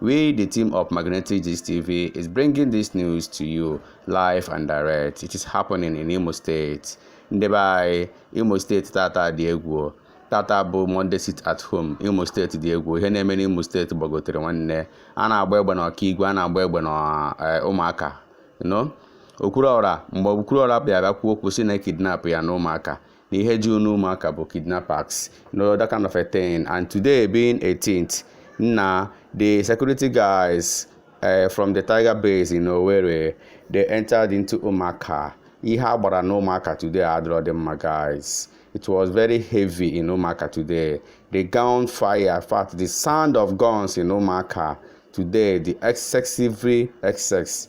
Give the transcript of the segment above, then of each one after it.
We, the team of Magnetic Gist TV, is bringing this news to you live and direct. It is happening in Imo State. Ndị be anyị, Imo State tata dị egwu. Tata bụ Monday sit at home. Imo State dị egwu. Ihe na-eme n'Imo State gbagotere nwanne. A na-agba egbe na Okigwe, a na-agba egbe na eh, Umuaka. No? Okwuruọra mgbe Okwuruọra bịara kwuo okwu sị na e kidnap ya na Umuaka. na ihe juru n'Umuaka bụ kidnappers you know that kind of a thing and today being 18th na the security guys uh, from the tiger base in Owerri they entered into Umuaka ihe a gbara na Umuaka today adịrọ dị mma guys it was very heavy in Umuaka today the gun fire in fact the sound of guns in Umuaka today dị excessively excess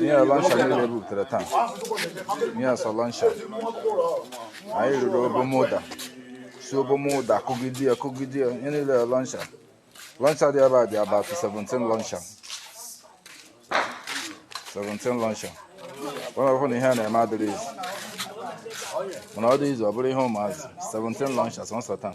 ihe a launcher niile butere taa ihe a sị launcher anyị riri obom ụda si obom ụda kụgide ya kụgide ya ihe niile launcher launcher dị ebe a dị about 17 launcher 17 launcher ọ na-abụkwa na ihe a na-eme adịrọ easy mana ọ dị easy ọ bụrụ ihe ụmụazị 17 launcher sọọsọ taa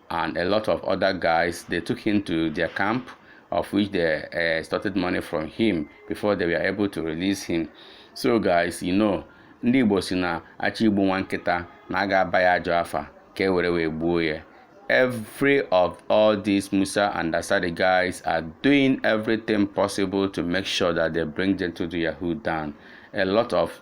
and a lot of other guys, they took him to their camp, of which they uh, extorted money from him before they were able to release him. So guys, you know, ndị Igbo si na a chọọ igbu nwa nkịta na a ga-aba ya ajọ afa ka e were wee gbuo ya. Every of all these Musa and Asadi guys are doing everything possible to make sure that they bring Gentle de Yahoo down. A lot of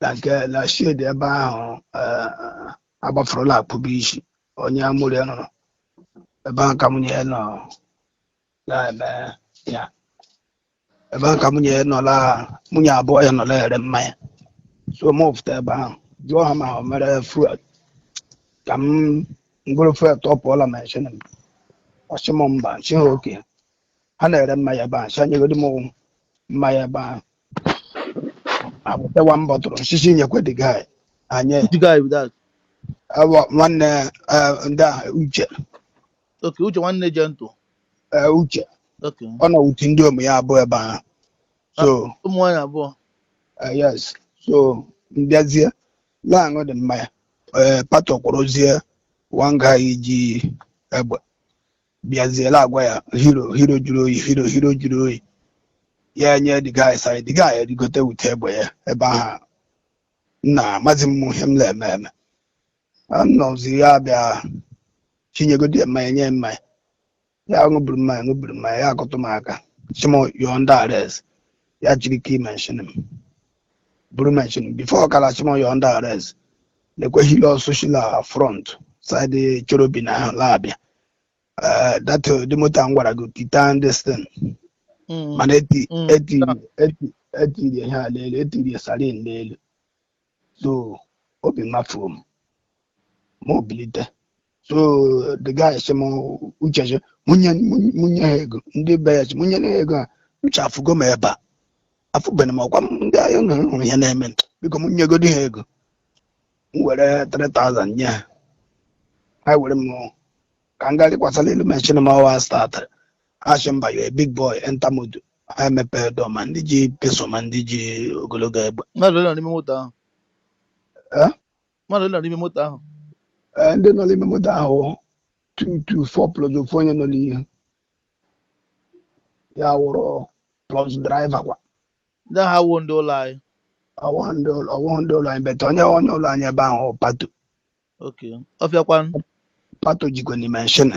na nke na shed ebe ahụ agbafurula akpụbụ isi onye amụrụ ya nọrọ ebe ahụ ka nwunye ya nọ na-eme ya ebe ahụ ka nwunye ya nọla nwunye abụọ ya nọ la-ere mmanya so m fụta ebe ahụ jụọ ha ma ha nwere fuel ka m goro fuel top up la machine ọ sị m mba m sị ha okay ha na-ere mmanya ebe ahụ sị ha nyegodi m mmanya ebe ahụ ha bute one bottle m sị sị nyekwe the guy anyị Which guy be that? ọ bụ nwanne eh, ndị a Uche Okay, Uche nwanne Gentle. eh, Uche Okay. ọ nọ with ndiom ya abụọ ebe ahụ so Ụmụ nwaanyị abụọ. eh, yes so m bịazie la-aṅụ the mmanya eh, Pato kwụrụzie nwanga iji egbe bịazie la-agwa ya Hero Hero jụrụ oyi Hero Hero jụrụ oyi ya enye the guy sign the guy erigote with egbe ya ebe ahụ nna amazi m ihe m na-eme eme anọzi ya bịa sị nyegodi ya mmanya nye ya mmanya ya ṅụburu mmanya ṅụburu mmanya ya akụtụ m aka sị m you're under arrest ya jiri key machine m buru machine before ka a la-asị m you're under arrest lekwe Hilux shi la front side Cherubim ahụ la-abịa Eh, that eh, the motor m gwara gị titan this thing Mm. mana eti Mm. eti eti e tiri ihe a n'elu e tiri siren n'elu so obi mafụọ m mụ ebilite so the guy sị m Uche sị mụ nye mụ nye ha ego ndị be ya sị mụ nye ha ego a Uche afụgo m ebe a afụbeghị m ọkwa m ndị ahịa nọ hụrụ ihe na-eme biko m nyegodi ha ego m were 3000 nye ha ha were m ka m ga rịkwasara elu machine m ọwa statịrị a sị m bịa you big boy enter moto ha emepee door ma ndị ji pistol ma ndị ji ogologo egbe mmadụ ole nọ n'ime moto ahụ Eh? mmadụ ole nọ n'ime moto ahụ Ee, ndị nọ n'ime moto ahụ two two four plus ofu onye nọ n'ihu ya wụrụ plus driver kwa ndị ahụ ha wụ ndị ụlọ anyị ọ wụghị ndị ụlọ ọ wụghị ndị ụlọ anyị but onye onye ụlọ anyị ebe ahụ Pato okay ọfịakwan Pato jikwanụ machine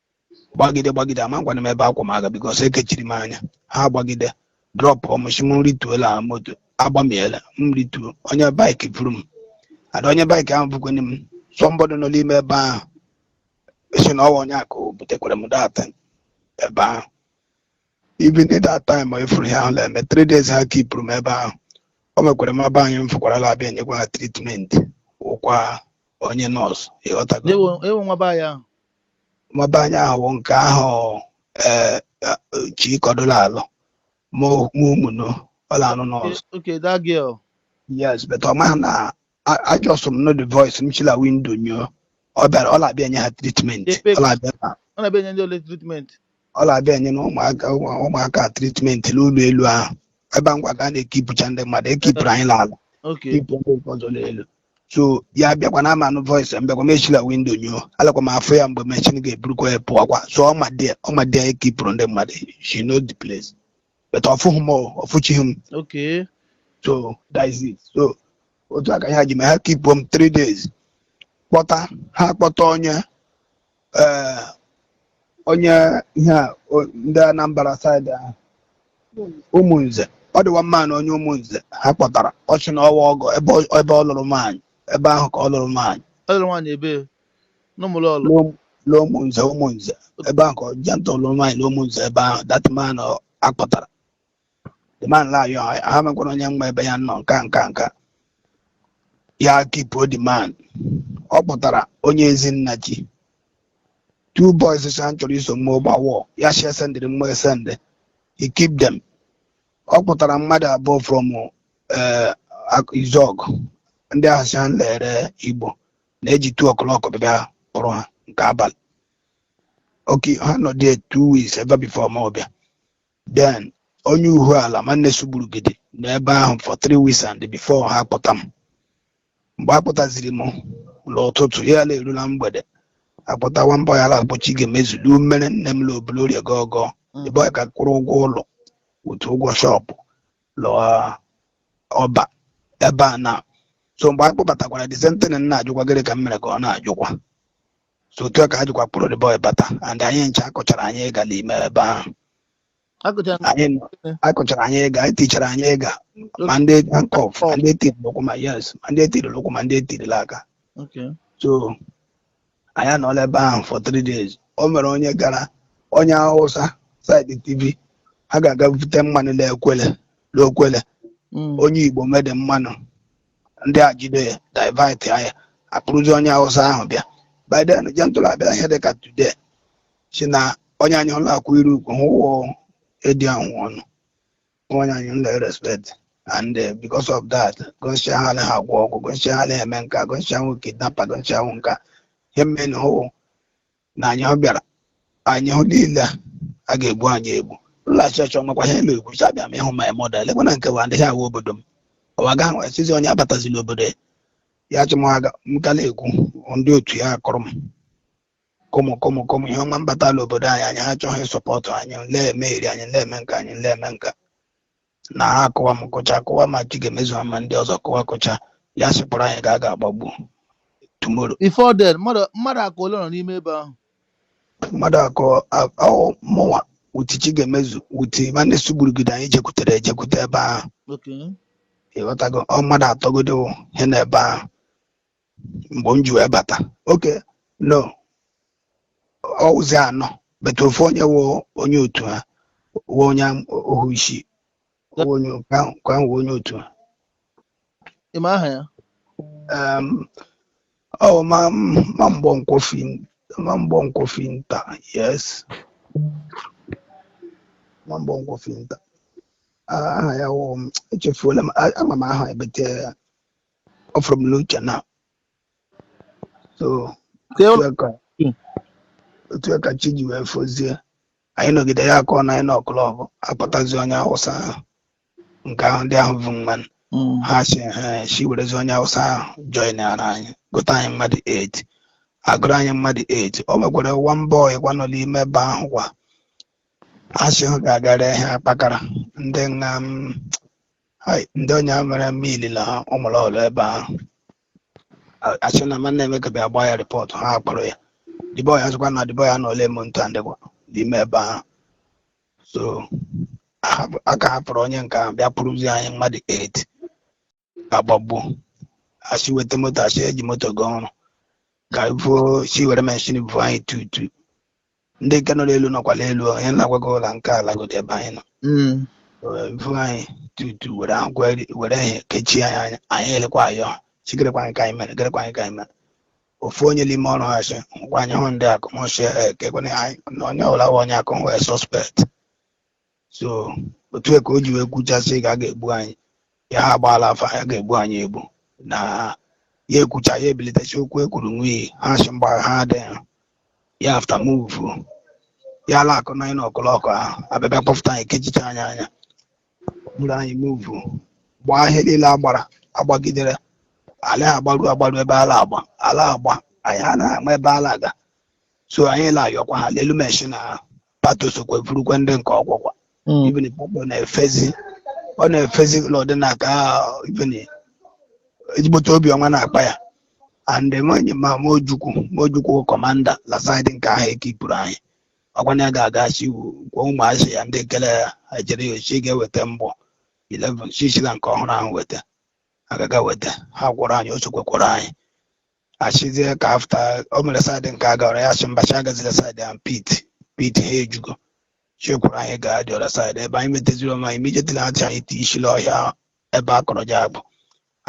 gbagide gbagide amakwana m ebe a kwọ m aga because e kechiri m anya ha gbagide drop ọmụchi m rituo la moto agbamiela m rituo onye bike buru m ada onye bike ahụ bụkwanye m somebody nọ n'ime ebe ahụ sị na ọwa onye akụ butekwara m that ebe ahụ even in that time ị fụrụ ihe ahụ na-eme three days ha kipụrụ m ebe ahụ o nwekwara nwa be anyị m fụkwara la-abịa enyekwa ha treatment ọ wụkwa onye nurse ị ghọtago ọ wụ nwa be anyị ahụ nwa be anyị ahụ nke ahụ ee Chikọdị la-alụ ma ụmụnụ ọla anụ n'ọzọ okay that girl yes but ọ maghị na a- ajọsụ m nụ the voice m shi la window nyoo ọ bịara ọ na-abịa enye ha treatment Ekpe- ọ na-abịa na- ọ na-abịa enye ndị ole treatment ọ na-abịa enye na ụmụaka ụmụ- ụmụaka treatment n'ụlọ elu ahụ ebe a m gwa gị a na-ekipụcha ndị mmadụ e kipụrụ anyị n'ala okay kipụ ndị nke ọzọ n'elu so ya bịakwa a na m anụ voice ya m bịakwa m eshi la window nyoo a lakwa m afụ ya mgbe machine ga-eburukwa ya pụọkwa so ọ ma there ọ ma there e kipụrụ ndị mmadụ she knows the place but ọ fụghị m o, ọ fụchighị m okay so that is it so otu a ka ha ji m ha kipụrụ m three days kpọta ha kpọta onye ee onye ihe a o- ndị Anambra side ahụ Ụmụnze ọ dị one man nụ onye Ụmụnze ha kpọtara ọ sị na ọwa ọgọ ebe ọ- ebe ọ lụrụ nwaanyị ebe ahụ ka ọ lụrụ nwaanyị ọ lụrụ nwaanyị ebee n'Ụmụlọlọ N'Ụm- n'Ụmụnze Ụmụnze ebe ahụ ka ọ jenta lụrụ nwaanyị n'Ụmụnze ebe ahụ that man a kpọtara the man la ya ha mekwara onye nwa ebe ya nọ nka nka nka ya kipuo the man ọ kpọtara onye Ezinachi two boys sha chọrọ iso mmụọ gbawọ ya shi esendịrị mmụọ esendị he keep them ọ kpọtara mmadụ abụọ from eh, Ak- izog ndị ahụ si ha lere igbo na-eji two o'clock bịa kpọrọ ha nke abalị okay ha nọ there two weeks ebe before ma ọ bịa then onye uhu ala nwanne Sugburugidi nọ ebe ahụ for three weeks and before ha kpọta m mgbe a kpọtaziri m n'ụtụtụ ya la eru la mgbede akpọta nwa boy a la-akpọ Chigaemezu lu mmere nne m lobulu orie gọgọ ebe ọ ka kwụrụ ụgwọ ụlọ otu ụgwọ shop lụọ ọba ebe a na so mgbe a kpọbatakwara the same thing na-ajụkwa gịrị ka m mere ka ọ na-ajụkwa so otu a ka ha jikwa kpọrọ the boy bata and anyị ncha akụchara anyị ịga n'ime ebe ahụ akụcha m anyị nọ- akụchara anyị ịga anyị tichara anyị ịga ma ndị handcuff ma ndị etiri n'ụkwụ ma yes ma ndị etiri n'ụkwụ ma ndị etirila aka okay so anyị anọla ebe ahụ for three days o nwere onye gara onye hausa side tv a ga-aga bute mmanụ na-ekwele n'Okwele mm. onye igbo nwe the mmanụ ndị a jide ya divert ya akpọrọzi onye awụsa ahụ bịa by then Gentle abịa ihe dịka today si na onye anyị la akwụ iru ukwu hụ wụ ịdị ahụ ọnụ onye anyị la respect and uh, because of that gọnshia ha anaghị agwọ ọgwụ gọnshia ha anaghị eme nka gọnshia wụ kidnapper gọnshia wụ nka ihe mmeni hụ na anyị ọ bịara anyị hụ niile a, a ga-egbu anyị egbu nlaghachi ọchọ nwekwa ihe elu egwu cha bịa ma ịhụ my mother lekwa na nke wa adịghị awụ obodo m ọwa ga nwere sizi onye abatazi n'obodo ya ya chụmwaga m ka na-ekwu ndị otu ya akụrụ m kụmụ kụmụ kụmụ ihe ọma mbata n'obodo anyị anyị ha achọghị isupport anyị nle eme iri anyị nle eme nka anyị nle eme nka na ha akụwa m kụcha akụwa ma Chigaemezu ha ma ndị ọzọ kụwa kụcha ya sịpụrụ anyị ka a ga-agbagbu tomorrow before then mmadụ mmadụ aka ole nọ n'ime ebe ahụ mmadụ akọ ahụ mụnwa with Chigaemezu with nwanne Sugburugide anyị ejekwutere ejekwute ebe ahụ okay ịghọtago ọ mmadụ atọ godi he na ebe ahụ mgbe m ji wee bata okay no ọ wụzi anọ but ofu onye wụ onye otu ha wụ onye ohu isi wụ onye nke ahụ nke ahụ wụ onye otu ha ị ma aha ya Em, ọ wụ ma ma mgbọ nkwofi ma mgbọ nkwofi nta yes ma mgbọ nkwofi nta Ah, aha ya wụ echefuola m a- ama m aha ya but ọ fụrụ m n'uche na so Kee otu ụlọ- a ka- Mm. otu a ka chi ji wee fozie anyị nọgide ya akụọ nine o'clock akpọtazi onye awụsa ahụ nke ahụ ndị ahụ vu mmanụ Mm. ha si ha si werezi onye awụsa ahụ joinara anyị gụta anyị mmadụ 8 agụrụ anyị mmadụ 8 o nwekwara one boy kwa nọ n'ime ebe ahụ kwa ha si ha ga-agara ihe akpakara ndị nga m Hai, ndị onye a mere mme ilila ha ọ mụrụ ọrụ ebe ahụ A- asị na ma na-emeka bịa gbaa ya rịpọtụ ha akpọrọ ya dịbọ ya sịkwa na dịbọ ya na ole eme ntụ andịkwa n'ime ebe ahụ so ahapụ- aka hapụrụ onye nke ahụ bịa kpụrụzi anyị mmadụ 8 agbagbu asị weta moto asị eji moto gaa ọrụ ka ifuo si were meshin vu anyị two two ndị nke nọ n'elu nọkwa n'elu o, ihe na-agwa gị ụla nke ala godi ebe anyị nọ Mm. vu anyị two two were akwa were ihe kechie anyị anya anyị alakwa ayọ sị gerekwa anyị ka anyị mere gerekwa anyị ka anyị mere ofu onye n'ime ọrụ ha sị ngwa anyị hụ ndị akụmụsị ekekwana anyị na onye ọbụla bụ onye akụm wee suspect so otu a ka o ji wee kwucha sị ka a ga-egbu anyị ya ha agbaala afa ya ga-egbu anyị egbu na ya ekwucha ya ebilitesi okwu ekwuru nwunye ha sị mba ha dị ha ya after move ya ala akụ nine o'clock ahụ abịa bịa kpọfụta anyị kechicha anyị anya buru anyị move gbaa ihe niile agbara agbagidere ala agbaru agbaru ebe ala agba ala agba anyị ha na-ama ebe ala aga so anyị na-ayọkwa ha n'elu meshin ahụ pato sokwa efurukwa ndị nke ọkwụkwa Mm. even pato na-efezi ọ na-efezi n'ụdị na ka even ezigbote obiọma na-akpa ya and enweghị ma mojukwu mojukwu commander la side nke ahụ ekipụrụ anyị ọkwana ya ga-aga si gwa ụmụazị ya ndị nke la-ejere ya ozi ga-eweta mbọ 11 sisila nke ọhụrụ ahụ weta agaga weta ha kwọrọ anyị o sokwa kwọrọ anyị asịzie ka after o mere side nke a gawara ya sị mba sị agazila side ahụ pit pit ha ejugo chekwuru anyị gaa the other side ebe anyị meteziri onwe anyị immediately achị anyị ti ishi la ọhịa ebe a kọrọ ji akpụ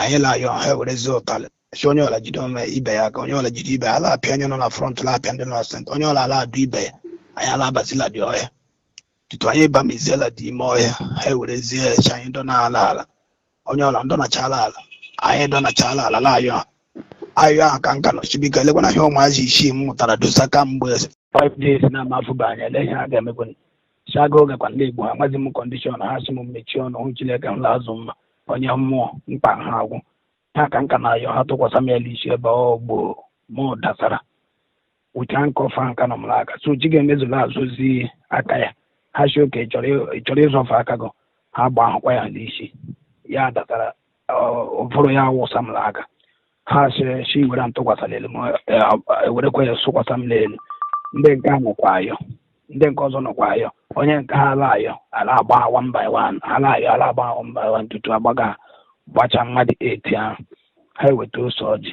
anyị la-ayọ ha ewerezie ụtalị sị onye ọla jide onwe ibe ya ka onye ọla jide ibe ya ala apịa onye nọ na front la apịa ndị nọ na center onye ọla ala adụ ibe ya anyị ala abazila dị ọhịa tutu anyị bamiziela dị ime ọhịa ha ewerezie chị anyị dọ n'ala ala onye ọla ndọnachala ala anyị dọnachala ala la-ayọ a ayọ ahụ ka m ka nọ sị biko elekwana ihe ụmụazị isii m mụtara dọsa kamgbe five days na amafụba anya ele ihe a ga-emekwa chaga oge kwa ndị igbo ha amaghị m condition ha sị m mechie ọnụ hụ chineke hụla azụ mma onye mmụọ mkpa ha agwụ ha ka m ka na-ayọ ha tụkwasị m ya n'isi ebe ọ gboo mụ dasara wụchaa nke ọfa nka nọ m n'aka so chi ga-emezula azụzi aka ya ha sị okay ị chọrọ ịzọfe aka gị ha gba ahụkwa ya n'isi ya datara ụvụrụ ya awụsa m n'aka ha sị sị were m tụkwasị n'elu m ewerekwa ya sụkwasa m n'elu ndị nke a nọkwa ayọ ndị nke ọzọ nọkwa ayọ onye nke ha a la-ayọ a la-agba one by one a la-ayọ a la-agba one by one tutu agbaga gbacha mmadụ eight ahụ ha eweta ose ọjị